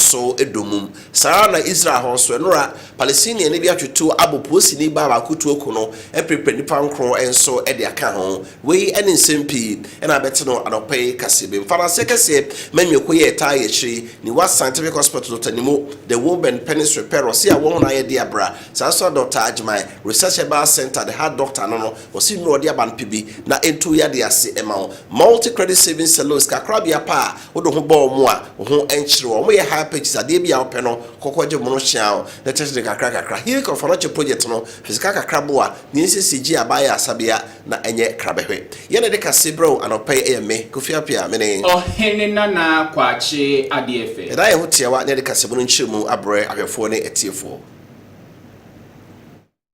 so dommum. Saa ara na Israel hɔ nso, nnora Palestiniani bi atoto abo poosini baa baako tuo ko no, mpirepire nnipa nkron nso de aka ho. Wei ne nsɛm pii na abɛte no anɔpa yi kaseɛbam. Fa no aseɛ kɛseɛ ma nnweko yi a ɛtaa yɛ akyire yi, Niwa Scientific Hospital, Dɔkta Nimo, The Woburn Penis Repair, ɔse awɔ ho na ayɛ de abra. Saa nso na Dɔkta Agyemang, Research Herbal Centre, The Heart Doctor, ano no, ɔse nnuro a wɔde aba no pɛ bi na ɛntu wo yadeɛ ase mma wo. Multi Credit Savings Saloon, Sikakorabea pa a Wode wo ho bɔ wɔn a wo ho nkyere wɔn. Wɔyɛ high pitches, adeɛ bi a wopɛ no, kɔkɔ gye mono hyea wo, na kyerɛkyerɛ no kakra kakra. Healing of Anokye project no, hwɛ sika kakra boa, na yɛnsiesie gye a baayɛ asabea na ɛnyɛ krabɛhwɛ. Yɛn na yɛde kase brɛ wo anɔpa yi, ɛyɛ me, Kofi Appiah, me ne. Ɔhene Nana Kwakye Adeɛfɛ. Yɛda yɛn ho tiawa na yɛde kasamu no nkyerɛmu abrɛ ahwɛfoɔ ne atiefoɔ.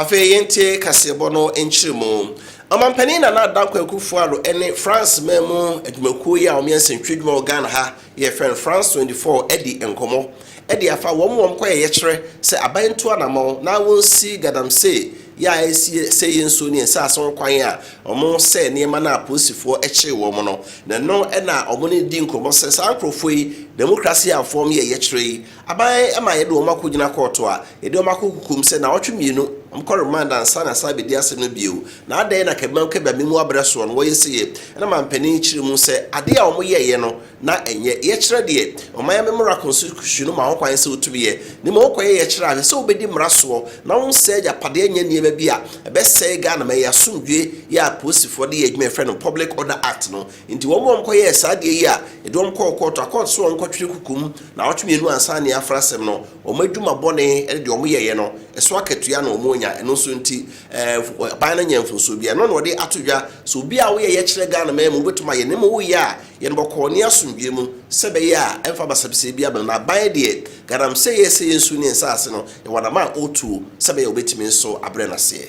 Afei yɛntie kaseɛbɔ no nkyerɛmu. Ɔmampanin Nana Dankwa Akufo-Addo ne France man mu adwumakuo yi a wɔyɛ nsɛntwerɛ adwuma wɔ Ghana ha Yɛfrɛ no France 24 adi nkɔmmɔ de afa wɔn wɔn kɔyɛ yɛkyerɛ sɛ aban ntu anamɔn na wɔnsi gadamsey yɛ a ɛresi sɛe yɛn nsuo ne yɛn nsaase ho kwan a wɔsɛɛ nneɛma no a apolisifoɔ kyee wɔn no. Na ɛno na wɔne no di nkɔmmɔ sɛ saa nkorɔfoɔ yi demokrasi amfɔm yɛ yɛkyerɛ yi Aban ma yɛde wɔn akɔgyina kɔɔto a, yɛde wɔn akɔ kokoam sɛ nnawɔtwe mmienu, wɔkɔ remand ansa na yɛasan abɛdi asɛm no bio. Na adɛn na Kabimam Kabea mmamu abrɛ soɔ no wɔyɛ seyɛ? Ɛna mampanin kyerɛ mu sɛ adeɛ a wɔyɛeɛ no na ɛnyɛ yɛkyerɛ deɛ ɔman mmara kɔnsikusyon no ma ho kwan sɛ wotumi yɛ, na mmom wokɔyɛ yɛkyerɛ ahwɛ sɛ wobɛdi mmara soɔ na wonsɛe agyapadeɛ nyɛ nneɛma bi a ɛbɛsɛe Ghanaman yi asomdwoeɛ yi a apolisifoɔ de yɛ adwuma a yɛfrɛ no Public Order Act no Enti wɔn a wɔkɔyɛɛ saa adeɛ yi a yɛde wɔn kɔɔ kɔɔto, akɔɔto sɛ wɔnkɔtwere koko mu nnawɔtwe mmienu ansa na yɛafra asɛm no, wɔn adwuma bɔne ne deɛ wɔyɛeɛ no, ɛso akatua na wɔnya, ɛno nso nti ɛɛ aban no nyɛ mfomsoɔ biara. Ɛno na wɔde ato dwa sɛ obi a woyɛ yɛkyerɛ Ghana man mu wobɛtumi ayɛ, na mmom woyɛ a yɛ no bɔkɔɔ ne asomdwoeɛ mu sɛ ɛbɛyɛ a ɛmfa basabasayɛ biara mmam. Na aban deɛ galamseyɛ sɛ yɛnsu ne nsaase no, yɛwɔ adama a ɔretuo sɛ ɛbɛyɛ a wɔbɛtumi nso abrɛ no aseɛ.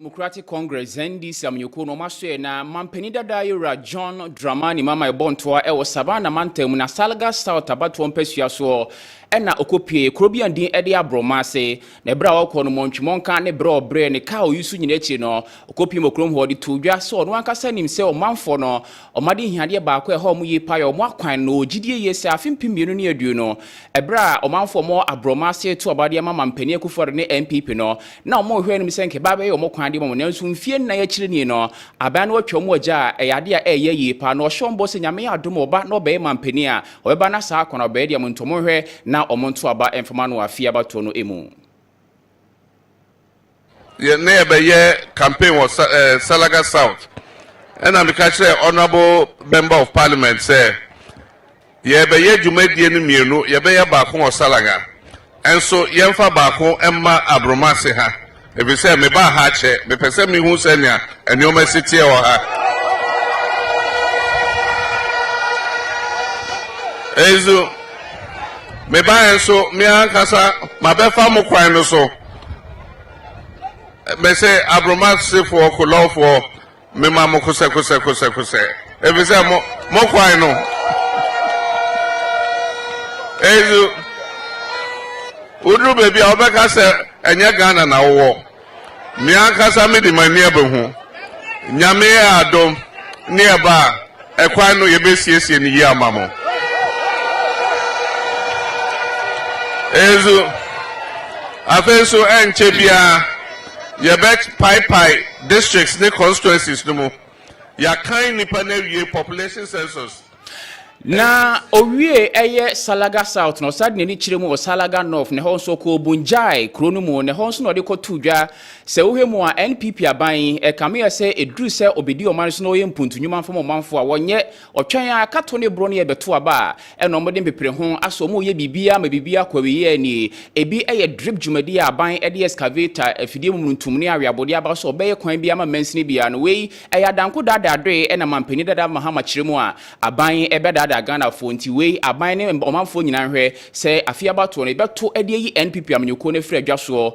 Democratic Congress, NDC, amanyɔkuo no wɔasoɛ na mampanin dada yɛwura John Dramani Mama ɛbɔ ntoa ɛwɔ Savannah mantam mu na Salga South abatoɔ mpasua soɔ ɛna ɔkɔpie kuro bi a din ɛde aborɔma ase na ɛberɛ a ɔkɔ no mɔntwemɔnka ne berɛ ɔbrɛ ne kaa ɔyi so nyina akyiri no ɔkɔpie mɔ kurom hɔ de too dwa sɛ ɔno ankasa nim sɛ ɔmanfoɔ no Wɔn adehiadeɛ baako a ɛha wɔn yie paa yɛ wɔn akwan no. Wɔgye die yie sɛ afe mpem mmienu ne aduonu, ɛberɛ a ɔmanfoɔ a wɔwɔ aborɔma ase reto aba de ama Mampanin Akufo-Addo ne NPP no, na wɔrehwɛ anim sɛ anka ɛbɛba abɛyɛ wɔn kwan de ama wɔn. Nanso mfeɛ nnan akyire nie no, aban no atwa wɔn agya a ɛyɛ adeɛ a ɛreyɛ yie paa. Na ɔhyɛ wɔn bɔ sɛ Nyame adom a ɔba na ɔbɛyɛ Mampanin a, ɔbɛba na saa akwan a ɔbɛyɛ deɛ, monto monhwɛ na wɔnto aba mfa ma no wɔ afe abatoɔ no mu. na yɛbɛyɛ campaign wɔ Salaga South, ɛna meka kyerɛɛ Honourable Member of Parliament sɛ yɛbɛyɛ dwumadie no mmienu, yɛbɛyɛ baako wɔ Salaga, nso yɛmfa baako mma Abromase ha, ɛfiri sɛ mebaa ha akyɛ, mepɛ sɛ mehu sɛnea nneɛma si teɛ wɔ ha. Ɛnso, mebaeɛ nso, me ankasa mabɛfa mo kwan no so. mɛsɛ aboromasefoɔ kolɔfoɔ mema mo kosɛkosɛkosɛkosɛ ɛfiri sɛ mo mo kwan no ɛnso woduru baabi a wobɛka sɛ ɛnyɛ ghana na wowɔ me ankasa mede m'ani abɛhu nyame yɛ adom ne ɛba a Ɛkwan no, yɛbɛsiesie no yie ama mo. Nso, afei nso ɛnkyɛ biara yɛbɛpaepae districts ne constituencies no mu. Yɛakan nnipa no awie population census. Na ɔwiee ɛyɛ Salaga South na ɔsan de n'ani kyerɛ mu wɔ Salaga North na ɛhɔ nso ɔkɔɔ Bunjai kuro no mu na ɛhɔ nso na ɔde kɔtoo dwa Sɛ wohwɛ mu a, NPP aban yi, ɛkame yɛ sɛ ɛduru sɛ ɔbɛdi ɔman no so na ɔyɛ mpuntu nnwuma mfa ma ɔmanfoɔ a, wɔnyɛ. Ɔtwɛn ara, kato ne borɔ no yɛ bɛto aba a, ɛna wɔde mpepere ho, asɔ mu reyɛ biribiara ma biribiara kɔ awieeɛ ara nie. Ɛbi yɛ drip dwumadie a aban de excavator, afidie mumununtum ne aweabodeɛ aba so sɛ wɔbɛyɛ kwan biara ma mansini biara no. Wei, ɛyɛ adanko daadaadoeɛ na mampanin dada Mahama kyerɛ mu a, aban bɛdaadaa Ghanafoɔ. Nti wei, aban ne ɔmanfoɔ nyinaa nhwɛ sɛ afei abatoɔ no, yɛbɛto de ayi NPP amanyɔkuo no afiri adwa soɔ.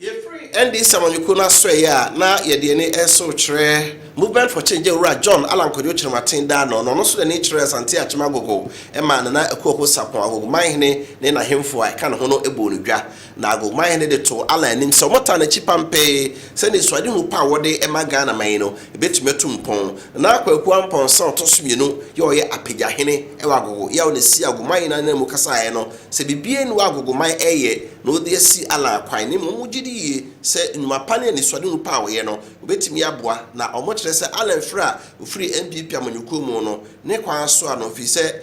Yɛfiri NDC amanyɔkuo no asoɛeɛ a na yɛde yɛn ani reso rekyerɛ Movement for Change Awuraa John Allan Kwadwo Kyerematen da ano no, ɔno nso de n'ani kyerɛɛ Asante Akyem Agogo maa Nana Akuaho Sarpong Agogomanhene ne n'ahemfo a ɛka ne ho no bɔɔ no dwa na Agogomanhene de too Allan anim sɛ wɔtaa n'akyi pampee sɛ anisoadehu pa a wɔde ma Ghanaman yi no bɛtumi atu mpɔn. Nana Kwaku Amponsah a ɔtɔ so mmienu yɛ ɔyɛ Apagyahene wɔ Agogo, yɛ a ɔna sii Agogomanhene ananmu kasaeɛ no, Sɛ biribiara nni hɔ a Agogoman reyɛ na ɔde asi Allah akwan, na mmom wogye di yie sɛ nnwuma pa ne anisoadehu pa a ɔyɛ no, obetumi aboa, na wɔkyerɛ sɛ Allah mfiri a ofiri NPP amanyɔkuo mu no ne kwan soa no ɛfiri sɛ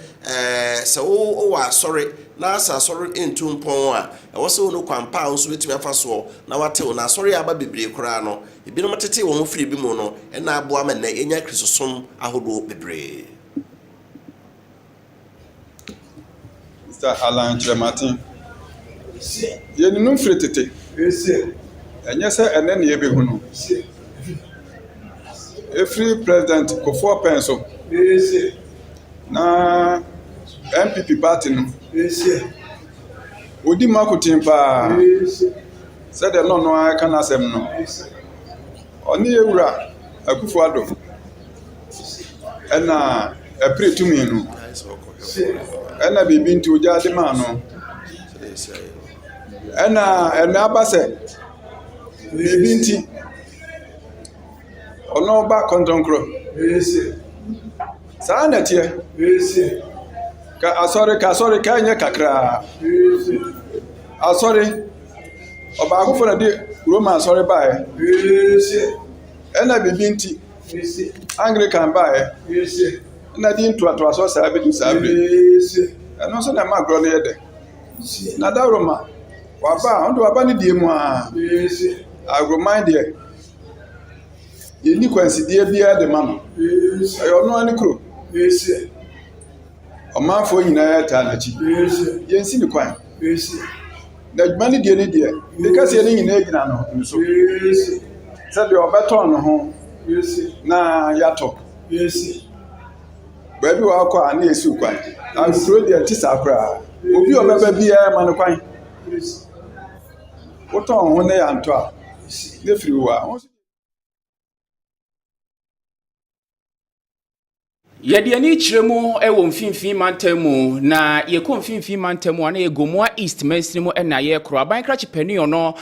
sɛ wo wɔ asɔre na sɛ asɔre ntu mpɔn a, ɛwɔ sɛ wohunu kwan pa a wo nso wobɛtumi afa soɔ na woatew, na asɔre a aba bebree koraa no, ebinom tetee wɔn ho firii bi mu no na aboa ma nnɛ yɛanya Kristosom ahodoɔ bebree. Mister Allan Kyerematen, Yɛnnim no firi tete. Ɛnyɛ sɛ ɛnnɛ na yɛrebehu no. Ɛfiri President Kofoɔ Opɛn so na NPP party no, ɔdi mu akoten pa ara sɛdeɛ na ɔno ara reka n'asɛm no. Ɔne yɛn Wura Akuffo Addo. ɛna ɛpere tumi no, ɛna biribi nti ogyaa de maa no, ɛna ɛna aba sɛ biribi nti ɔno ɔba kɔntɔnkorɔ. Saa na ɛteɛ. Ka asɔre ka asɔre ka ɛnyɛ kakra. Asɔre, ɔbaakofo na ɛde Roma asɔre baeɛ, ɛna biribi nti. Anglikan baeɛ na din ntoatoasoɔ saa bɛdu saa berɛ yi. Ɛno nso na ɛma agorɔ no yɛ dɛ. Na dawuroma, waba a, ɔde waba ne deɛ mu ara. Agroman deɛ, yɛnni kwansideɛ biara de ma no. Ɛyɛ ɔno ara ne kuro. ɔmanfoɔ nyinaa taa n'akyi yɛnsi ne kwan na adwuma no deɛ ne deɛ ne kɛseɛ no nyinaa gyina no nso sɛdeɛ ɔbɛtɔn ne ho na yɛatɔ baabi wɔ akɔ a ne yɛsiw kwan ankuro deɛ nte saa koraa obi a ɔbɛba biara ma no kwan wotɔn ho na yɛantɔ a ne firi wo a Yɛde ani kyerɛ mu wɔ mfimfini mantam mu, na yɛkɔ mfimfini mantam mu a na yɛ Gomoa East mansini mu na yɛrekoro. Aban krakye panyin no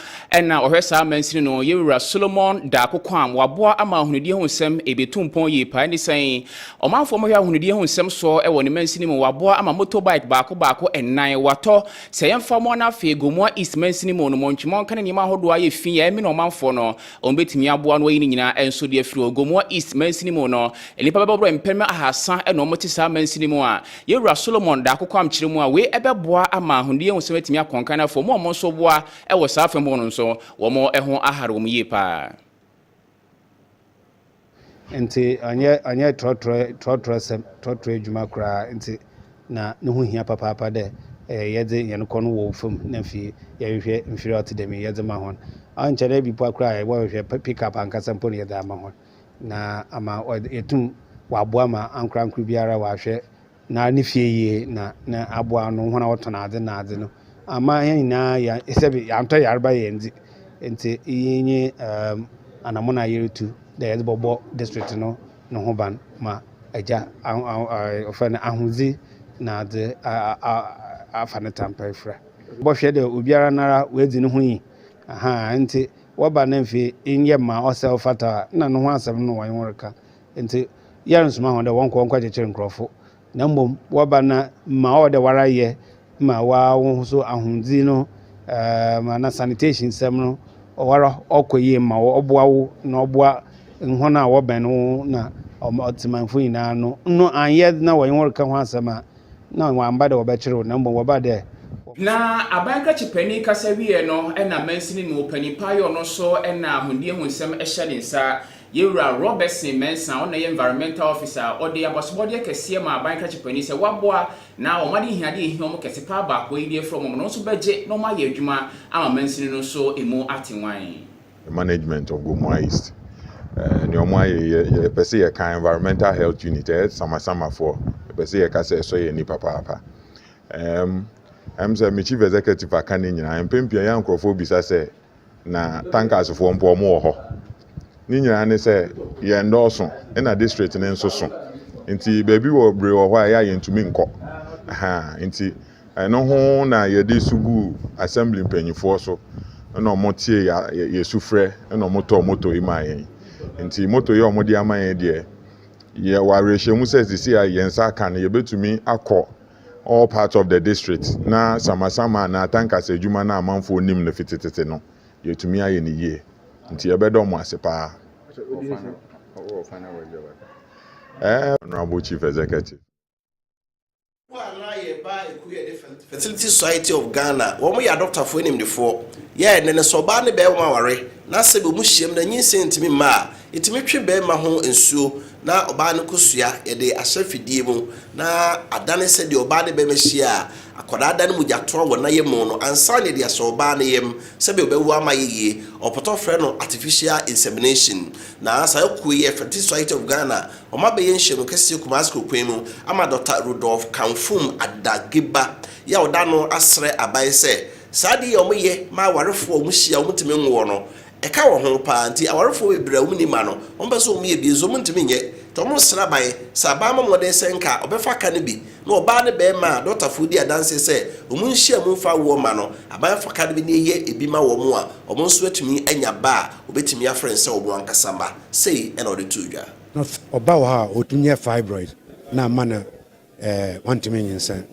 na ɔhwɛ saa mansini no, yɛwura Solomon Daako Kwam. Waboa ama ahonidie ho nsɛm ɛbɛtu mpɔn yie paa. Ɛne sɛn ɔmanfoɔ mohwɛ ahonidie ho nsɛm soɔ wɔ ne mansini mu. Waboa ama motorbike baako baako nnan watɔ. Sɛ yɛmfa mo ana afei Gomoa East mansini mu no, montwe mɔnka ne nneɛma ahodoɔ a yɛ fi a ɛmene ɔmanfoɔ no. Wɔbɛtumi aboa no ayi ne nyinaa nso de afiri Ogomoa East mansini mu no, nnipa bɛbɔ berɛ mpem ahasa na wɔte saa mansini mu a Yɛwura Solomon Daako Kwamkyere mu a wei bɛboa ama ahoni ahusɛm atumi akɔ nkan na afei wɔn a wɔn nso boa wɔ saa afa mu no nso wɔn ho ahare wɔn yie pa ara. Ntsi ɔnnyɛ ɔnnyɛ trɔtrɔ trɔtrɔsɛm, trɔtrɔ edwuma koraa ntsi na no ho hia papaapa dɛ yɛdze hɛn kɔn wɔ famu na afei yɛhwehwɛ mfir a ɔtse dɛm yi yɛdze ma hɔn. Ɔnnkyɛr no bi mpo koraa a yɛbɔhwehwɛ pick-up ankasa mpo na yɛdze ama hɔn na ama yeetum wɔaboa ma ankorankor biara ɔahwɛ Na ne fie yie na na aboa ano hɔn a wɔtɔn adze na adze no. Ama hɛn nyina yɛ sɛbe yɛanntɔ yarba hɛn dze. Ntsi iyi nye um anamɔn a yerutu dɛ yɛdze bɔbɔ district no no ho ban ma agya aho aho wɔfrɛ no ahodzi na adze a a afa ne tampa efura. Bɔhwɛ dɛ obiara noara oedzi no ho nyi. Ahaa, ntsi wɔba na mfe nnyɛ ma ɔsɛ ɔfata a, nna no ho asɛm no na wɔnye wo reka. Ntsi yɛronnsoma hɔn dɛ wɔnkɔ nkɔkyekyer nkorɔfo, na mbom wɔba no a, ma ɔwɔ dɛ woara yɛ ma woara woho so ahondzi no, ana sanitation nsɛm no, ɔwoara ɔkɔ yie ma wo, ɔboa wo na ɔboa hɔn a wɔbɛn wo na ɔtsemanfo nyina no, no annyɛ dze na wɔnye wo reka ho asɛm a, nna wɔammba dɛ wɔbɛkyer wo, na mbom wɔbaa dɛ. Na aban kakyipani kasa wiei no, nna mansini mu panyin paa yɛ ɔno so na ahondiehu nsɛm hyɛ ne nsa, Yɛn Wura Robertson Mensah a ɔno na ɛyɛ Environmental Officer a ɔde abasobɔdeɛ kɛseɛ maa Aban Krakyɛ Panin sɛ wɔaboa na wɔn ade ahiadeɛ a ɛhia wɔn kɛse paa baako yi de afiri wɔn no nso bɛgye na wɔayɛ adwuma ama mansini no nso ɛmu ate nwan. The management of Gomoa East eh, nea ɔmo ayɛ yɛ yɛ pɛ sɛ yɛ ka environmental health unit ɛyɛ samasamafoɔ yɛ pɛ sɛ yɛ ka sɛ ɛsɔ yɛ ani papaapa ɛm ɛm sɛ me chief executive aka ne nyinaa mpɛn pii ɛyɛ nkorɔfoɔ bisa sɛ na tankersfoɔ mpo wɔn wɔ hɔ. Ne nyinaa ne sɛ yɛn dɔɔso na district no nso so. Nti baabi wɔ bere wɔ hɔ a ɛyɛ a yɛntumi nkɔ. Ahaa, nti ɛno ho na yɛde su guu assembly mpanimfoɔ so na wɔn tie yɛ sufrɛ na wɔn tɔɔ moto yi maa yɛn. Nti moto yi a wɔde ama yɛn deɛ, yɛwɔ awerɛhyɛmu sɛ sisi a yɛn nsa aka no yɛbɛtumi akɔ all parts of the district na samasama anaa atankasa adwuma no a amanfoɔ nim no fi tetete no, yɛatumi ayɛ no yie. Nti yɛbɛdɔ mo ase pa ara. Eh, Honourable Chief Executive. Bɔ a na yɛ baa ekuo yɛde Fertility Society of Ghana, wɔn yɛ adɔktafoɔ animdefoɔ, yɛɛ nnɛ no sɛ ɔbaa ne bɛɛma ware na sɛbi wɔn hyiam na nyinsɛn ntumi mma a, Yɛtumi twe barima ho nsuo na ɔbaa no kosua yɛde ahyɛ fidie mu na adane sɛdeɛ ɔbaa ne barima hyia a akwadaa dane mogyatoa wɔ nayɛmu no ansa na yɛde ahyɛ ɔbaa no yam sɛdeɛ ɔbɛwo ama ayɛ yie. Ɔpɔtɔ frɛ no artificial insemination na saa akuo yi yɛ Fertility Society of Ghana wɔn abɛyɛ nhyiamu kɛseɛ Kumasi Kokoe mu ama Dɔkta Rudolph Kamfum Adageba yɛ a ɔda ano asrɛ aban sɛ saa adeɛ yi a wɔyɛ ma awarefoɔ a wɔhyia a wɔntumi nwoɔ no Ɛka wɔn ho paa nti awarefoɔ bebree a wɔnni mma no, wɔpɛ sɛ wɔyɛ bi nso wɔntumi nyɛ nti wɔsra ban sɛ aban mmɔ mmɔden sɛ nka wɔbɛfa ka no bi na ɔbaa ne barima a dɔktafoɔ di adanseɛ sɛ wɔn nhyiam mfa awoɔ mma no, aban fa ka no bi na ɛyɛ bi ma wɔn a wɔn nso atumi anya ba a wɔbɛtumi afrɛ no sɛ wɔn ankasa mma. Sei na wɔde too dwa. Na ɔba wɔ hɔ a ɔtumi yɛ fibroid na ama no Ɛɛ, wɔntumi nyinsɛn.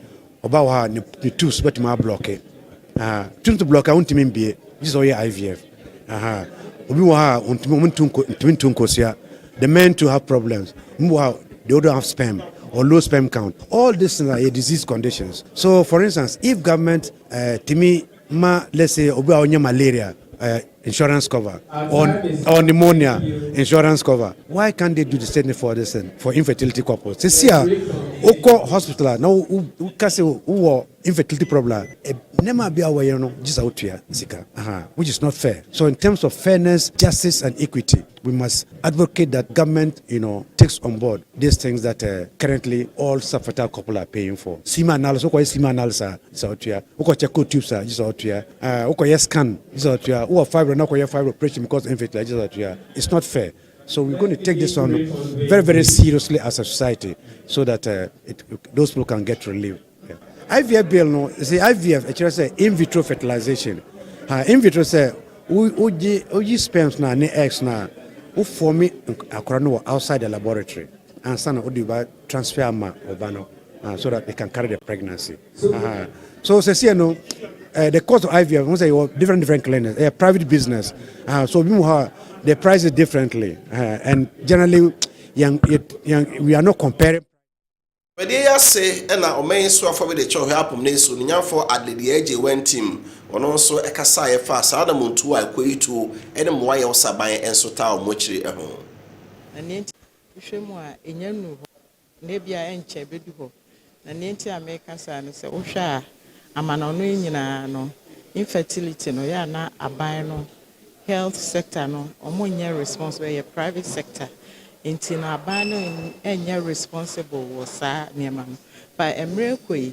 Ɔbaa wɔ hɔ a, ne ne tubes bɛtumi ablɔke. Aha, tubes no blɔke a, wɔntumi mbie. Gye sɛ ɔyɛ IVF. Aha, obi wɔ hɔ a, wɔntumi wɔn ntu nko ntumi ntu nkosua. The men too have problems. Obi wɔ hɔ a, they don't have sperm or low sperm count. All these things are yɛ disease conditions. So for instance, if government ɛɛ tumi ma let's say obi a ɔnyɛ malaria ɛɛ. insurance cover or or pneumonia insurance cover why can't they do the same for this thing for infertility couples sɛ si a wokɔ hospital a na woka sɛ wowɔ infertility problem a nneɛma bi a wɔyɛ no gye sɛ wotua sika which is not fair so in terms of fairness justice and equity We must advocate that government you know, takes on board these things that uh, currently all sub-fertile couple are paying for. Semen analysis, wokɔyɛ semen analysis a, gye sɛ ɔtua. Wokɔkyɛ cold tubes a, gye sɛ ɔtua. Uh, wokɔyɛ scan, gye sɛ ɔtua. Wowɔ fibroid na wokɔyɛ fibroid operation because infertility a, gye sɛ ɔtua. It's not fair. So we're going to take this on very, very seriously as a society so that uh, it, those people can get relief. IVF bill no se IVF ɛkyerɛ sɛ in vitro fertilization ha in vitro sɛ wogye woyi sperms no a ne eggs no a wofɔmi akora no wɔ outside the laboratory ansa na wode ba transfer ama ɔba no uh, so that they can carry the pregnancy uh-huh. so sɛsiɛ no uh, the cost of IVF ho sɛ yɛwɔ different different clinics ɛyɛ private business uh, so bi mu hɔ they price it differently uh, and generally young, young, we are not comparing Dwumadie yi ase na ɔman yi so afɔbi de kyɛ ɔhwɛ apom ne nsuo no nyamfoɔ Adlady Agyei Wantim, ɔno nso kasaeɛ faa saa anamontuo a ɛkɔ yi tuo ne mmoa a yɛwɔ sɛ aban nso taa wɔn akyiri ho. Na nea enti a wohwɛ mu a ɛnya nnuru hɔ na ebia ɛnkyɛ ɛbɛdu hɔ, na nea enti a meka saa ne sɛ wohwɛ a amanɔne nyinaa no infertility no yɛ a na aban no health sector no ɔmo nyɛ responsible ɛyɛ private sector nti no aban no nyɛ responsible wɔ saa nneɛma no but mmerɛ ɛkɔ yi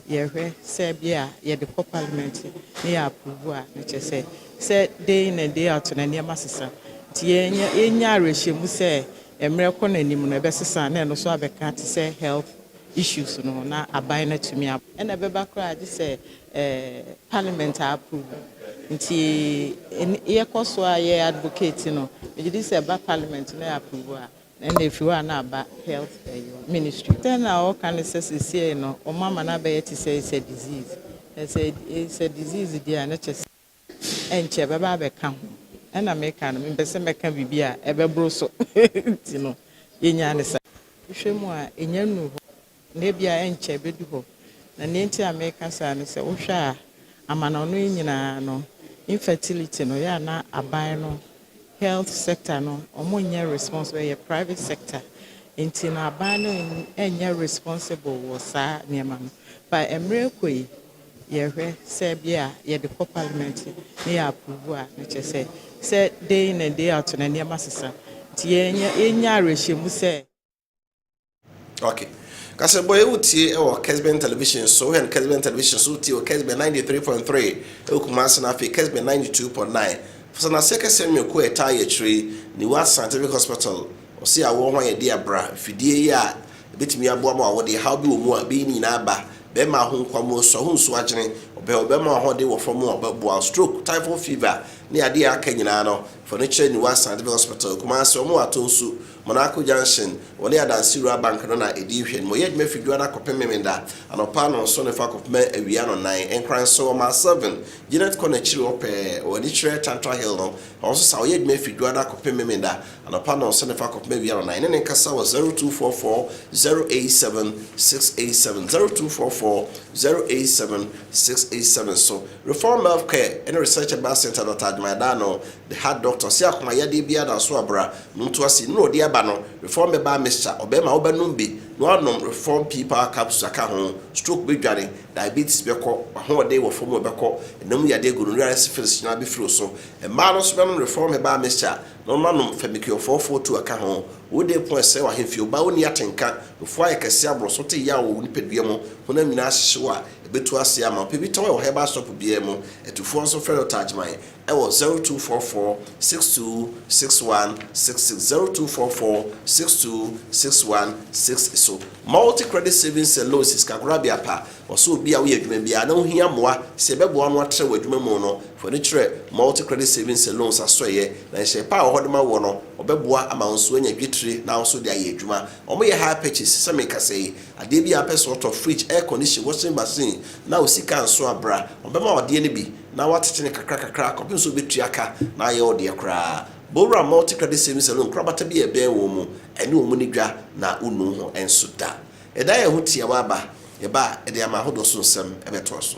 yɛhwɛ sɛ bi a yɛde kɔ parliament ne yɛ approve a ne kyɛ sɛ sɛ day in and day out na nneɛma sesa nti yɛnya yɛnya awerɛhyɛmu sɛ mmerɛ kɔ no anim no ɛbɛsesa na ɛno so abɛka te sɛ health issues no na aban no atumi ab ɛna ɛbɛba koraa gye sɛ Parliament approve nti yɛkɔ so a yɛ advocate no megye di sɛ ɛba Parliament na approve a na ɛna ɛfiri hɔ a na aba Health Ministry. Sɛ na ɔka no sɛ sesiei no wɔn ama no abɛyɛ te sɛ it's a disease na sɛ it's a disease deɛ a na kyɛ sɛ. ɛnkyɛ bɛba abɛka ho. Ɛna meka no, mempɛ sɛ mɛka biribi a ɛbɛboro so nti no, yɛnyaa no saa. Wohwɛ mu a, ɛnnya nnuu hɔ, na ebia ɛnkyɛ ɛbɛdu hɔ. Na nea nti a meka saa ne sɛ, wohwɛ a, amanɔne yi nyinaa no, infertility no, yɛ a na aban no, health sector no, wɔnyɛ responsible, ɛyɛ private sector. Nti no, aban no nnyɛ responsible wɔ saa nneɛma no. But mmerɛ rekɔ yi, yɛhwɛ sɛ bia a yɛde kɔ parliament na yɛ approve a na kyerɛ sɛ sɛ day in and day out na nneɛma sesa nti yɛnya yɛnya awerɛhyɛmu sɛ Ok. Kasabɔ yi wotie wɔ Kesben Television so, wohwɛ no Kesben Television so, wotie wɔ Kesben 93.3 wɔ Kumase na afei Kesben 92.9. Fasanaseɛ kɛseɛ nwene kuo a ɛtaa yɛ akyire yi, Niwat Scientific Hospital, ɔse awɔ ho ayɛdeɛ abra, mfidie yi a Ebetumi aboa ma wɔde haw bi wɔ mu a ebeyi ne nyinaa aba. Bɛma ahonkwa mu ɔsɔ, ahunso agyene, ɔbɛ a ɔbɛma w'ahoɔden wɔ fam a ɔbɛboa wo, stroke, typhoid fever, ne ade a aka nyinaa no, fa no kyerɛ Niwa Scientific Hospital, Kumasi, wɔn wɔ Ato Nsu, Monaco Junction, wɔne Adansi Rural Bank no na edi nhwɛnim. Wɔyɛ adwuma fi Dwoada kɔpem Memenda, anɔpa nnɔnson ne fa kɔpem awia nnɔnnan. Nkranso, wɔma Sylvan, Janet Corner akyiri hɔ pɛɛ, wɔ ani kyerɛ Chantra Hill no, hɔ nso saa ara, wɔyɛ adwuma fi Dwoada kɔpem Memenda, Anɔpa nnɔnsa ne fa kɔpem awia nnanan. Yɛne no nkasa wɔ 0244 087 687, 0244 087 687 so. Reform Health Care ne Research Herbal Centre Doctor Admire Daano, The Heart Doctor, ɔse akoma yadeɛ biara da so a bra no nto ase. Nnuro a ɔde aba no, Reform Herbal Mixture, ɔbɛma wo bɛnom bi na woanom Reform Pea Power Capsules aka ho. Stroke bɛdwane, diabetes bɛkɔ, w'ahoɔden wɔ fam bɛkɔ, ɛnam mu yadeɛ, gonorrhea ne syphilis nyinaa bɛfiri wo so. Mmaa no nso bɛnom Reform Herbal Mixture. Momma no mfa mikuafɔɔ fɔɔ tuo aka ho, Wode po ɛsɛe w'ahemfie, Wo ba a ɔnni atenka, Nufoɔ ayɛ kɛseɛ aborɔ so, Wote yaw wɔ wo nipadua mu, Honam nyinaa ahyehye wo a, ɛbɛtu aseɛ ama wo, Pɛ bi tɔn wɔ herbal shop biara mu, Atufoɔ nso frɛ no Tajman, ɛwɔ zero two four four six two six one six six zero two four four six two six one six so. Multi Credit Savings and Loans Sikakorabea pa, Wɔ sɛ obi a woyɛ adwuma biara na wohia mmoa sɛ yɛbɛboa no atrɛw adwuma mu no, fa w'ani kyerɛ Multi Credit Savings and Loans asoɛeɛ na nhyɛɛ pa a ɛwɔ hɔ de ma woɔ no, wɔbɛboa ama wo nso woanya dwetire na wo nso wode ayɛ adwuma. Wɔyɛ hire purchase, sɛ meka sɛ yi, adeɛ biara a wopɛ sɛ wotɔ, fridge, air condition, washing machine, na wo sika nso a, bra, wɔbɛma wo adeɛ no bi na woatete no kakra kakra kɔpem sɛ wobɛtua ka na ayɛ wo deɛ koraa. Bowura Multi Credit Savings and Loans korabata bi a ɛbɛn wo mu, ɛne wɔn nni dwa na wonnu ho nso da. Ɛda a ɛho tiawa aba, ɛba a, ɛde ama ahodoɔ so nsɛm bɛtoa so.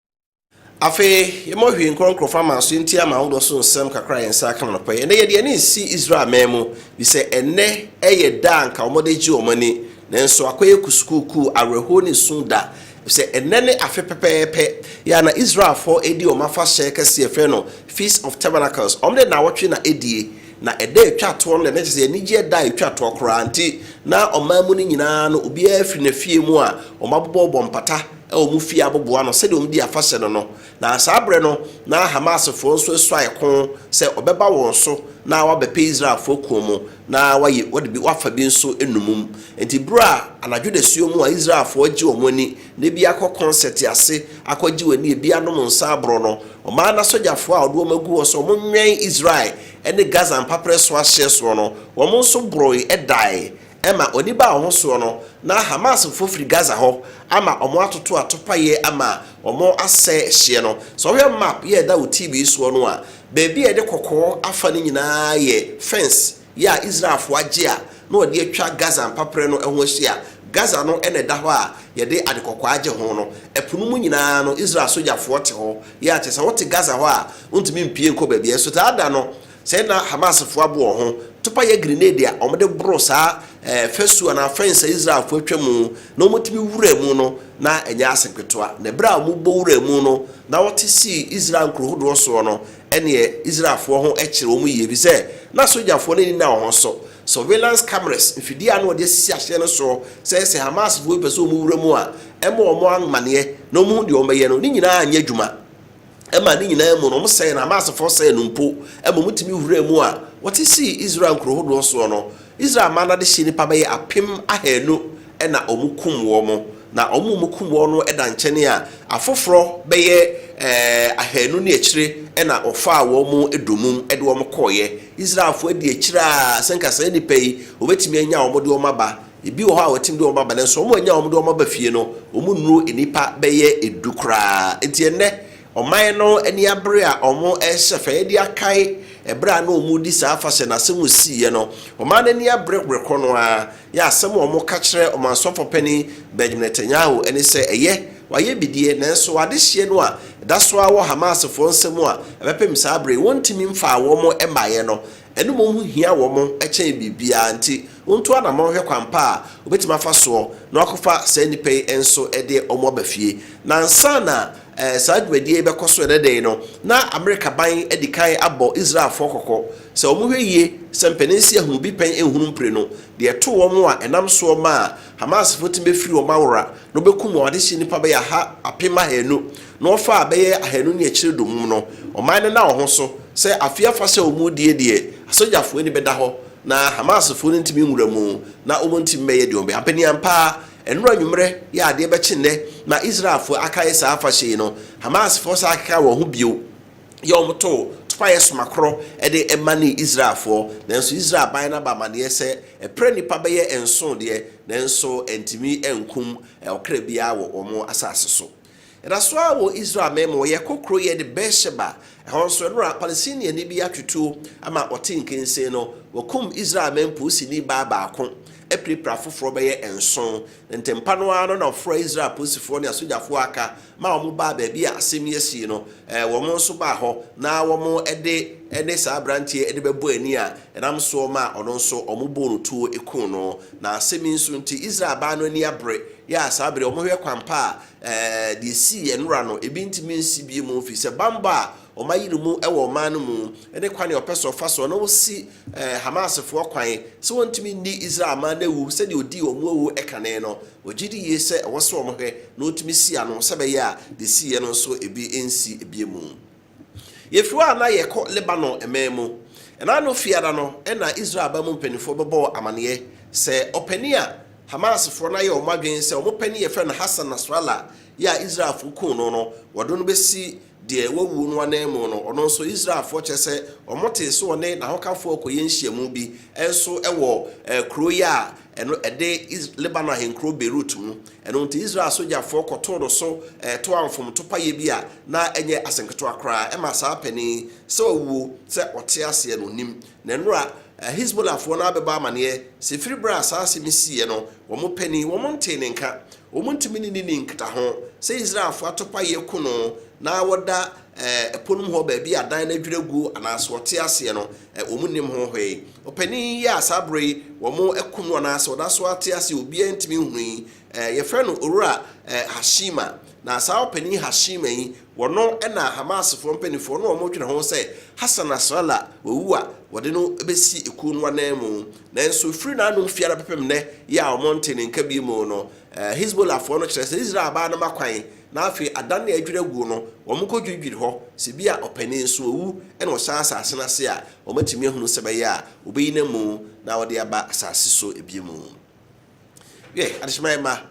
Afei, yɛma ohwie nkorɔnkorɔfo ama nso yɛntie ama ahodoɔ so nsɛm kakra a yɛn nsa aka no anɔpa yi. Ɛnnɛ, yɛde yɛn ani resi Israelman mu, efisɛ ɛnnɛ yɛ da a anka wɔde regye wɔn ani. Nanso, akɔyɛ kusukuukuu, awerɛhoɔ ne su da, efisɛ ɛnnɛ ne afe pɛpɛɛpɛ yɛ a na Israelfoɔ redi wɔn afahyɛ kɛseɛ a yɛfrɛ no Feast of Tabernacles. Wɔde nnawɔtwe na ɛdie, na ɛda a ɛtwa toɔ no deɛ, na kyerɛ sɛ anigyeɛ da a ɛtwa toɔ koraa. Enti, na ɔman mu no nyinaa no, obiara firi n'afie mu a, wɔabobɔbobɔ mpata, wɔ wɔn fie aboboa no sɛdeɛ wɔdi afahyɛ no no, na saa berɛ no na Hamasfoɔ nso asuae ko sɛ wɔbɛba wɔn so na wɔabɛpɛ Israelfoɔ kuo mu na wɔayɛ wɔde bi wɔafa bi nso nnomum. Enti berɛ a anadwo dasuo mu a Israelfoɔ agye wɔn ani na ebi akɔ kɔnsɛte ase akɔgye wɔn ani, ebi anom nsa aboro no, ɔmaa n'asogyafoɔ a ɔde wɔn agu hɔ sɛ wɔnwɛn Israel ne Gaza mpaprɛ so ahyeɛ soɔ no, wɔn nso boroe dae Ɛma oni baa wɔn soɔ no, na Hamasfoɔ firi Gaza hɔ ama wɔn atoto atopaeɛ ama wɔn asɛe ɛhyeɛ no. Sɛ wohwɛ map yi a ɛda wo TV soɔ no a, baabi a yɛde kɔkɔɔ afa no nyinaa yɛ fence yi a Israelfoɔ agye a na wɔde atwa Gaza mpaperɛ no ho ahyia. Gaza no na ɛda hɔ a yɛde ade kɔkɔɔ agye ho no. Ɛpo no mu nyinaa no, Israel sogyafoɔ te hɔ. Yɛ a kyerɛ sɛ wote Gaza hɔ a, wontumi mpue nkɔ baabiara. Nsutaadaa no, Sɛ na Hamasfo aboa wɔn ho to pa yɛ grenade a wɔde boro saa fasu anaa fɛns a Israelfo atwa mu na wɔtumi wura mu no, na ɛnyɛ ase ketewa. Na bere a wɔbɔ wuraa mu no, na wɔte sii Israel nkurow hodoɔ soɔ no, ɛnneɛ Israelfoɔ ho kyere wɔn yie, efisɛ na sogyafoɔ no ani nna wɔn ho so. Surveillance cameras, mfidie a na wɔde asisi ahyɛn no soɔ sɛ sɛ Hamasfo bi pɛ sɛ wɔwura mu a, ɛmma wɔn amanneɛ na wɔhu deɛ wɔbɛyɛ no, ne nyinaa anyɛ adwuma. ɛmaa ne nyinaa mu no, wɔsɛee no, Hamasfoɔ sɛee no mpo, ɛma wɔtumi wuraa mu a wɔte sii Israel nkuro hodoɔ soɔ no, Israel man no adehyeɛ nnipa bɛyɛ apem ahanu na wɔkum wɔn, na wɔn a wɔkum wɔn no da nkyɛne a, afoforɔ bɛyɛ ahanu ne akyire na wɔfaa wɔn dommum de wɔn kɔeɛ. Israelfoɔ adi akyire a, sɛ nka saa nnipa yi, wɔbɛtumi anya wɔn de wɔn aba Ebi wɔ hɔ a wɔtumi de wɔn aba nanso wɔn a wɔnya wɔn de wɔn aba fie no, wɔnnuru nnipa bɛyɛ du koraa. Enti ɛnnɛ, ɔman no ani abere a wɔrehyɛ fã adi akae ɛberɛ a na wɔredi saa afahyɛ no asɛm mu siiɛ no. Ɔman no ani abere berɛ korɔ no ara yɛ asɛm a wɔka kyerɛ Ɔmansɔfoɔ Panin Benjamin Netanyahu ne sɛ ɛyɛ, wɔayɛ bidie nanso adehyeɛ no a ɛda so ara wɔ Hamasfoɔ nsa mu a ɛbɛpem saa berɛ yi, wɔntumi mfaa wɔn mmaeɛ no Ɛno mmom ho hia wɔn kyɛn biribiara, nti wontu anamɔn hwɛ kwan pa a wobɛtumi afa soɔ na wɔakɔfa saa nnipa yi nso de wɔn aba fie. Na ansa na saa dwumadie yi bɛkɔ so ɛnnɛ da yi no, na Amerika ban adi kan abɔ Israelfoɔ kɔkɔ sɛ wɔnhwɛ yie sɛ mpanin nsi ahunu bi pɛn nhunu mprenu, deɛ ɛtoo wɔn a ɛnam soɔ maa Hamasfoɔ tumi bɛfiri wɔn awora na wɔbɛkum wɔn adehye nnipa bɛyɛ aha apem ahaanu na wɔfaa bɛyɛ ahanu ne akyire dommum no, ɔman no nna wɔn so sɛ afeɛ afahyɛ a wɔredie deɛ asogyafoɔ ani bɛda hɔ na Hamasfoɔ no ntumi nwura mu na wɔntumi mmɛyɛ deɛ wɔbɛyɛ. Ampanin ampa ara, nnora anwummerɛ yɛ adeɛ bɛkye nnɛ ma Israelfoɔ akae saa afahyɛ yi no. Hamasfoɔ san kekaa wɔn ho bio yɛ wɔn too topaeɛ somakorɔ de manee Israelfoɔ, nanso Israel aban no aba amaneɛ sɛ ɛpra nnipa bɛyɛ nson deɛ nanso antumi ankum ɔkra biara wɔ wɔn asase so. Ɛda so ara wɔ Israel man mu, wɔyɛ kokorɔyɛ de Beer-Sheba, ɛhɔ nso, ɛno na Palestiniani bi atutuo ama ɔte nkensen no. Wɔkum Israel man polisini baa baako, apirapira afoforɔ bɛyɛ nson, na ntɛmpa no ara no na wɔfrɛɛ Israel polisifoɔ ne asogyafoɔ a aka ma wɔbaa baabi a asɛm yi asii no. Wɔn nso baa hɔ na wɔde ne saa aberanteɛ de bɛbɔɔ ani a Ɛnam soɔ maa ɔno nso wɔbɔɔ no tuo kuu no. Na asɛm yi nso nti, Israel baa no ani abere, yɛ a saa bere yi wɔhwɛ kwan pa a deɛ ɛsii yɛn wura no, ebi ntumi nsi bio mu, ɛfiri sɛ bammɔ a wɔayi no mu wɔ ɔman no mu, ne kwan a ɔpɛ sɛ ɔfa soɔ na ɔsi Hamasfoɔ kwan sɛ wɔntumi nni Israel man no awu sɛdeɛ ɔdii wɔn awu kane no, ɔgye di yie sɛ ɛwɔ sɛ wɔhwɛ na wɔtumi si ano sɛ ɛbɛyɛ a deɛ ɛsiiɛ no nso ebi nsi bio mu. Yɛfiri hɔ a, na yɛkɔ Lebanon mmɛn mu. Ɛnna no Fiada no na Israel aban mu mpanimfoɔ bɛbɔɔ amaneɛ sɛ ɔpanin a Hamasfoɔ no ayɛ wɔn adwene sɛ wɔn panin a yɛfrɛ no Hassan Nasrallah yi a Israelfoɔ kum no no, wɔde no bɛsi deɛ wawuo no ananmu no. Ɔno nso, Israelfoɔ kyerɛ sɛ wɔtee sɛ ɔne n'ahokafoɔ rekɔyɛ nhyiamu bi nso wɔ kuro yi a Ɛno ɛde Is Lebanon ahenkurow Beirut mu. Ɛno nti Israel sogyafoɔ kɔtoo no so toaa mfomto payɛ bi a na ɛnyɛ ase nketewa koraa. Ɛma saa panin yi, sɛ ɔwuo, sɛ ɔte aseɛ no, ɔnnim. Na nnora, Hezbollahfoɔ no ara bɛbɔ amaneɛ sɛ firi berɛ a saa asɛm yi siiɛ no, wɔn panin, wɔn ntee ne nka. Wɔntumi ne no nnii nkitaho. Sɛ Israelfoɔ atopayeɛ ku no na wɔda ɛpono mu hɔ baabi a adan no adwiri aguo anaa sɛ ɔte aseɛ no, wɔnnim ho hwee. Ɔpanin yi a saa berɛ yi wɔakum no anaasɛ ɔda so ara te ase a obiara ntumi nhunu yi, wɔfrɛ no Owura Hashima. Na saa ɔpanin Hashima yi, ɔno na Hamasfoɔ mpanimfoɔ na wɔdwene ho sɛ Hassan Nasrallah wawu a wɔde no bɛsi kuo no ananmu. Nanso ɛfiri n'anom fie ara bɛpem nnɛ yi a wɔntee ne nka bio no, Hezbollahfoɔ no kyerɛ sɛ Israel baa no ma kwan Na afei ada no a adwiri aguo no, wɔkɔdwiridwiri hɔ, sɛ ebia ɔpanin nso awu na ɔsan asase no ase a, wɔatumi ahunu sɛ ɛbɛyɛ a wɔbɛyi no amu na wɔde aba asase so bio. Yɛ adesamma yɛn mma.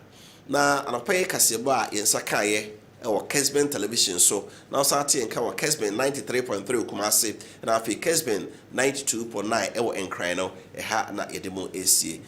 Na anɔpa yi kaseɛbɔ a yɛn nsa kaeɛ wɔ Kesben Television so, na wosan ate yɛn nka wɔ Kesben 93.3 Kumasi, na afei Kesben 92.9 wɔ Nkran no, ɛha na yɛde mo resie.